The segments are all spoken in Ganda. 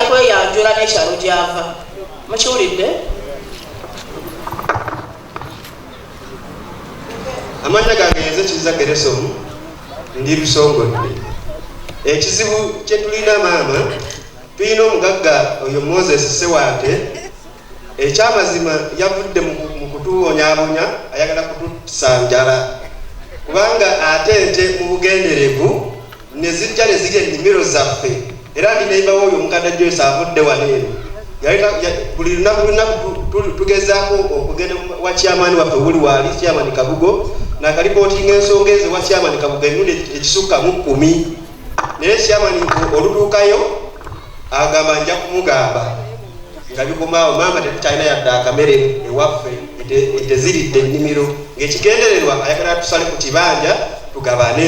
kweyanjula n'ekyalo gy'ava mukiwulidde amannya gange yenze kiza geresomu ndi lusongodde ekizibu kyetulina maama tulina omugagga oyo moses sewante ekyamazima yavudde mu kutubonyabonya ayagala kutusanjala kubanga ate nte mu bugenderevu ne zijja ne zirya ennimiro zaffe era ndi neyimba wooyo omukadde Joyce avudde wano eno buli lunaku lunaku tugezaako okugenda wa chairman waffe wuli waali chairman kabugo nakalipootinga ensonga ezo wa chairman kabugo emirundi ekisukka mu kkumi naye chairman olutuukayo agamba nja kumugamba nga bikomaawo maama tetukyalina yadde akamere ewaffe eteziridde ennimiro ngaekigendererwa ayagala tusale ku kibanja tugabane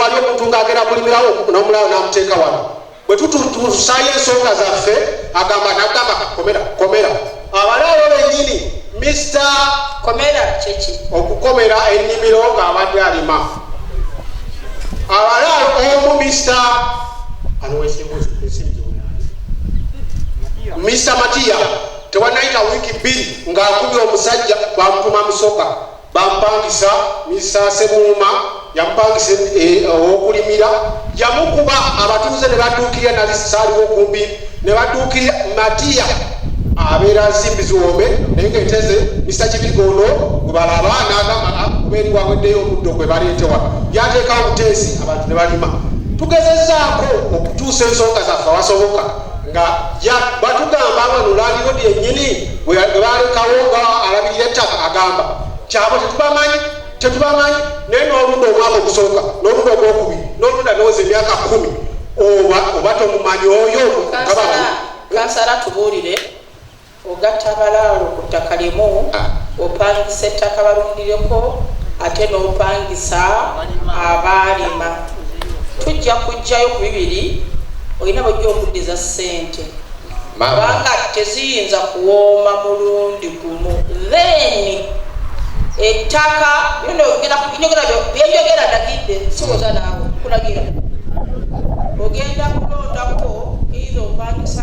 wali omuntu ng'agenda kulimirawo n'omulawo n'amuteeka wano bwe tututusaayo ensonga zaffe agamba nagamba komera komera abalaalo bennyini mista komera kyeki okukomera ennimiro ng'abadde alima abalaalo omu mista mista matiya Tewannayita wiiki bbiri ng'akubye omusajja bamutuma Musoga bamupangisa, Mister Ssebuuma yamupangisa eh, ow'okulimira yamukuba abatuuze ne badduukirira nali saaliwo kumbi ne badduukirira Matiya abeera nsimbi ziwombe naye ng'enteze Mister Kibigondo gwe balaba n'agamba ah, kuba eri waweddeyo omuddo gwe baleetewa yateekawo obuteesi abantu ne balima tugezezaako okutuusa ensonga zaffe awasoboka nga batugamba wano landirodi yennyini webalekawo nga alabirira ettaka agamba kyabo tetubamanyi tetubamanyi naye n'olunda omwaka ogusooka n'olunda ogwokubiri n'olunda nowoza emyaka kumi oba oba tomumanyi oyo kansala tubuulire Ogatta abalaalo ku ttaka limu, opangisa ettaka balundireko ate n'opangisa abaalima. Tujja kuggyayo ku bibiri olina bw'ojja okuddiza ssente kubanga teziyinza kuwooma mulundi gumu. Then ettaka bye njogera ndagidde siwoza naawe nkulagira ogenda kulondako either opangisa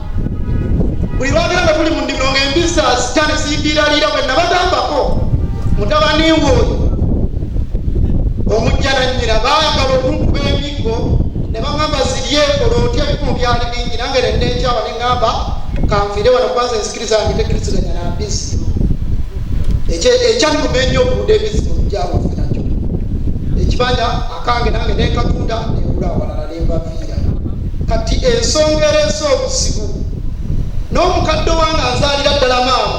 buli lwagera nga tuli mu ndimiro nga embizzi azita ne zimbiraliira bwe nabagambako mutabani ng'oyo omujja nannyina baagala okunkuba emiggo ne bagamba ziryekola otya ebikumu byali bingi nange nennenkyawa ne ŋamba kanfiire wano kubanza ensikiriza yange tekiriziganya na mbizzi ekyanuma ennyo okuuda ebizibu byabufe nakyo ekibanja kange nange nekatunda nebula awalala nembaviira kati ensonga ereese obuzibu n'omukadde wange anzaalira ddala maamu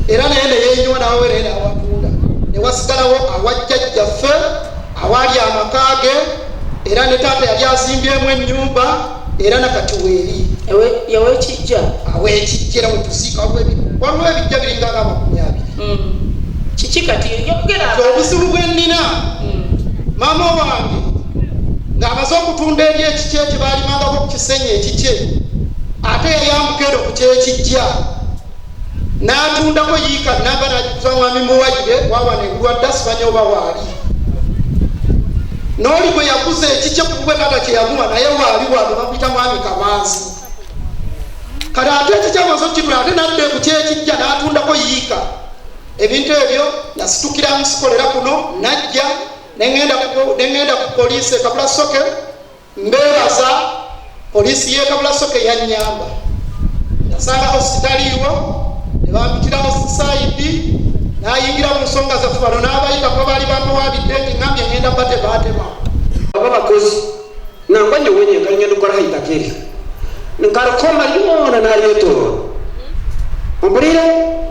era naye neyenyiwa nawewereera awatunda newasigalawo awajjajjaffe awaali amaka ge era ne taata yali azimbyemu ennyumba era nakati weeri yawekijja awekijja era wetusiika waliwo ebijja biringa nga amakumi abiri hmm. kiki kati obuzibu bwennina hmm. maama wange ng'amaze okutunda eri ekikye kye baalimangako ku kisenyi ekikye ate yayambuka ero ku kyekijja natundako yiika namba najuza mwami muwayire wawana ebulwadda simanya oba waali noli bwe yakuza ekikye kubwe kata kyeyamuwa naye waali wano bakuyita mwami kamanzi kati ate ekikyamaze okukitula ate nadde kukyekijja natundako yiika ebintu ebyo nasitukira musikolera kuno najja nengenda ku poliisi ekabula soke Mbeebaza poliisi y'e Kabulasoko eyannyamba. Nasanga hositaliiwo ne bampitirawo sayidi n'ayingira mu nsonga zaffe bano n'abayitako baali bampawabidde nti ngambye ngenda bba tebaatema baba bakozi nangwa nyo wenye nkali ngenda okukola haitakeri nkalukoma lyona nalyetoola ompulire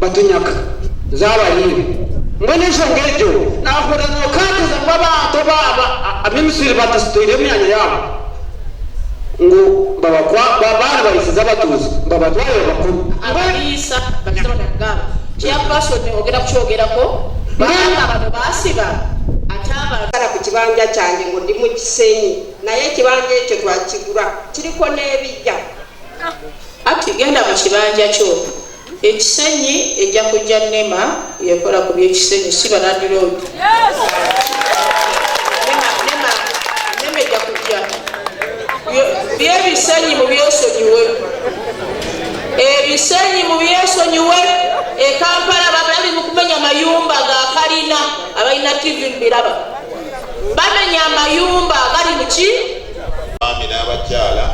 batunyaka nze abayimbi mbona ensonga ejo nahura nokakeza mbu abantu baaba abemisiri batasitoire emyanya yabo ngu babakwa babaana bayisiza abatuuzi mbabatwale babakulu abaliisa bakiza batagamba kyakwasoni ogenda kukyogerako baana bano basiba atabasala ku kibanja kyange ngo ndi mu kisenyi naye ekibanja ekyo twakigula kiriko n'ebijja ati genda mu kibanja kyo Ekisenyi ejja kujja nema yekola ku byekisenyi si balandiroodi nema ejja kujja byebisenyi mu byesonyiwe ebisenyi mu byesonyiwe ekampala babali mu kumenya mayumba ga kalina abalina tv mubiraba bamenya amayumba agali muki Abaami n'abakyala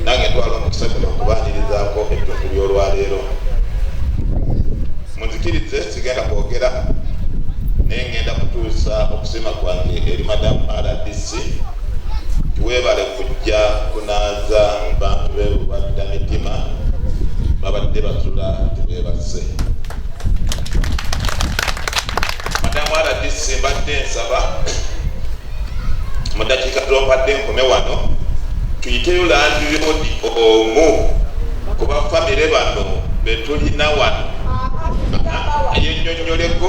nange ntwala omukisa guno okubaanirizaako ettundu ly'olwaleero munzikirize sigenda kwogera naye ngenda kutuusa okusima kwange eri madamu rdc tiwebale kujja kunaaza bantu bebubadda mitima babadde batula tiwebase madamu rdc mbadde nsaba Mudakiika tulompadde nkome wano tuyiteyo landiroodi omu kuba famire bano betulina wano yenyonyoleko